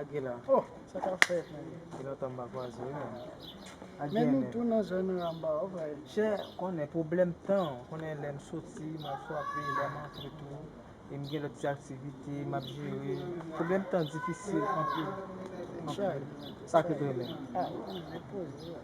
Aguila oh sa ka fèt men. Depi lontan m pa kwaze w nan. Men nou tou nan zòn Ramba w vre. Chè konnen pwoblèm tan w konnen lè m soti m al frape lè m antre tou e m gen lòt ti aktivite m ap jere pwoblèm tan difisil anpil anpil sa ke t renmen.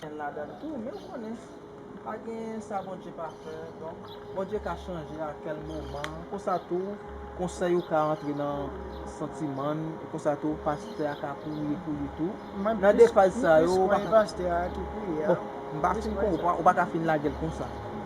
Ken ladann tou men ou konnen pa gen sa Bondye pa fè donk Bondye ka chanje a kèl moman konsa tou konsèy ou ka antre nan santimann e konsa tou pastè a ka priye pou li tou nan de faz sa yo ou paka bon m pa fin konprann ou paka fin lagel konsa.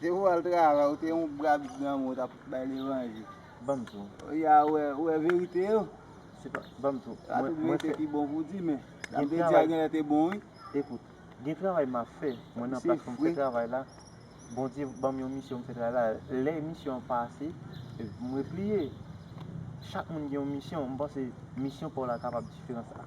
Se pou al travay ou te yon bra vit granmoun ou tap bay levanje. Banm tou. Ou ya wè ou wè verite yo. Se pa banm tou. Mwen mwen fè. Sa tout verite ki bon pou di men. Sa mte di a genlè te bon wi. Ekout gen travay map fè mwen nan plas poum fè travay la Bondye banm yon misyon m fè travay la lè misyon an pa ase m repliye chak moun gen yon misyon m panse misyon paw la kapab diferan sa.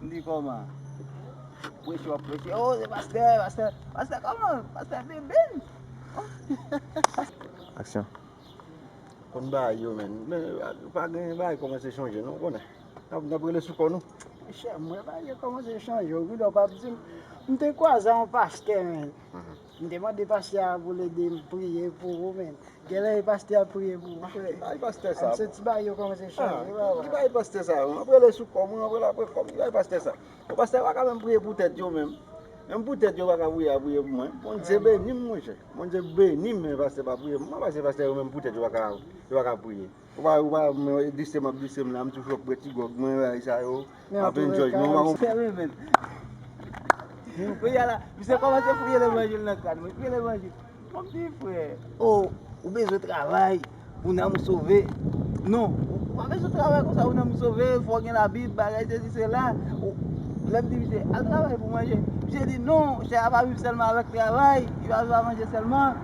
M di kòman? Preche w ap preche, o se pastè, pastè, pastè kòman? Pastè bebe n. Aksyon. Konn bagay yo menn. Men pa gen bagay kòmanse chanje non ou konnen. N ap rele sou kò nou. Chè m wè bagay yo kòmanse chanje. Ou gen lè w pa ap di m. M te kwaze yon pastè menn. M te mande pastè a pou l ede m priye pou ou men genlè e pastè a ap priye pou ou frè m soti bay yo kòm se chay e pa vre bay pastè sa yo m ap rele sou kò m ap rele apre kò m bay pastè sa yo pastè yo pa ka menm priye pou tèt yo menm menm pou tèt yo pa ka priye a priye pou mwen Bondye beni m monchè Bondye beni m men pastè pa priye pou mwen paske pastè yo menm pou tèt yo pa ka yo pa ka priye. Ou pa ou pa men w glise map glise m la m toujou ap pran ti gòg mwen bagay sa yo ap enjoy men ou pa konprann. Kounya la misye kòmanse priye levanjil nan kran mwen, priye levanjil Mon pti frè oo ou bezwen travay pou nanm ou sove non ou pa bezwen travay konsa pou nanm ou sove fò w gen labib bagay sesi sela lè m di misye al travay pou w manje misye di non chè a pa viv sèlman avèk travay yo pa viv a manje sèlman.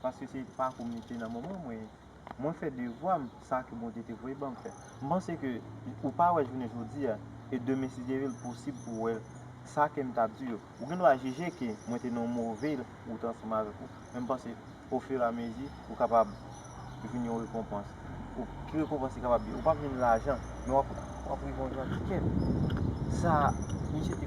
Paske se pa kou m li te nan moman mwen. Mwen fè devwa m, sa ke Bondye te voye ban m fè. M panse ke ou pa wè jounen jodi a, e demen si Dye vle l posib pou w wè l. Sa ke m t ap di yo, ou gen dwa jije ke mwen te nan yon move wout ansanm avèk ou, men m panse ofiramezi ou kapab jwenn yon rekonpans. Ki rekonpans li kapab ye? Ou p ap jwenn lajan, men w ap rive yon jan ti kè. Sa misye te.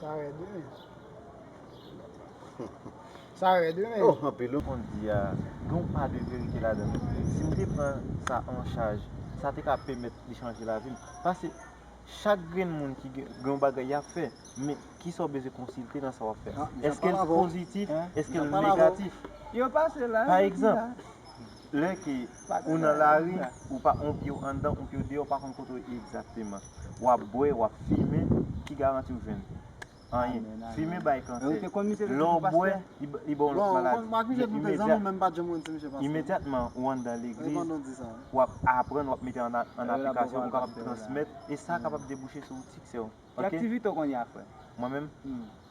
Sa rèd wi men. Sa rèd wi men. Oh anpil wi. Konn di a gen yon pa de verite ladan l wi. Si m te pran sa an chaj, sa te ka pèmèt li chanje lavi m. Pase chak grenn moun ki gen yon bagay y ap fè, men ki sa w bezwen konsilte nan sa w ap fè a? Èske l pozitif, èske l negatif? Yo pase la, yo di la. Pa egzanp. Lè ke ou nan lari, ou pa on pye w anndan, on pye w deyò, ou pa konn kote w ye egzakteman. W ap bwè, w ap fimen, ki garanti w jwenn? Anyen. Fimen bay kansè. Lè w bwè, li ba w lòt maladi. Imedyatman ou anndan legliz, w ap aprann, w ap mete an aplikasyon, ou kapab transmèt, e sa kapab debouche sou siksè w. Ki aktivite w konn ye a frè? Mwen menm?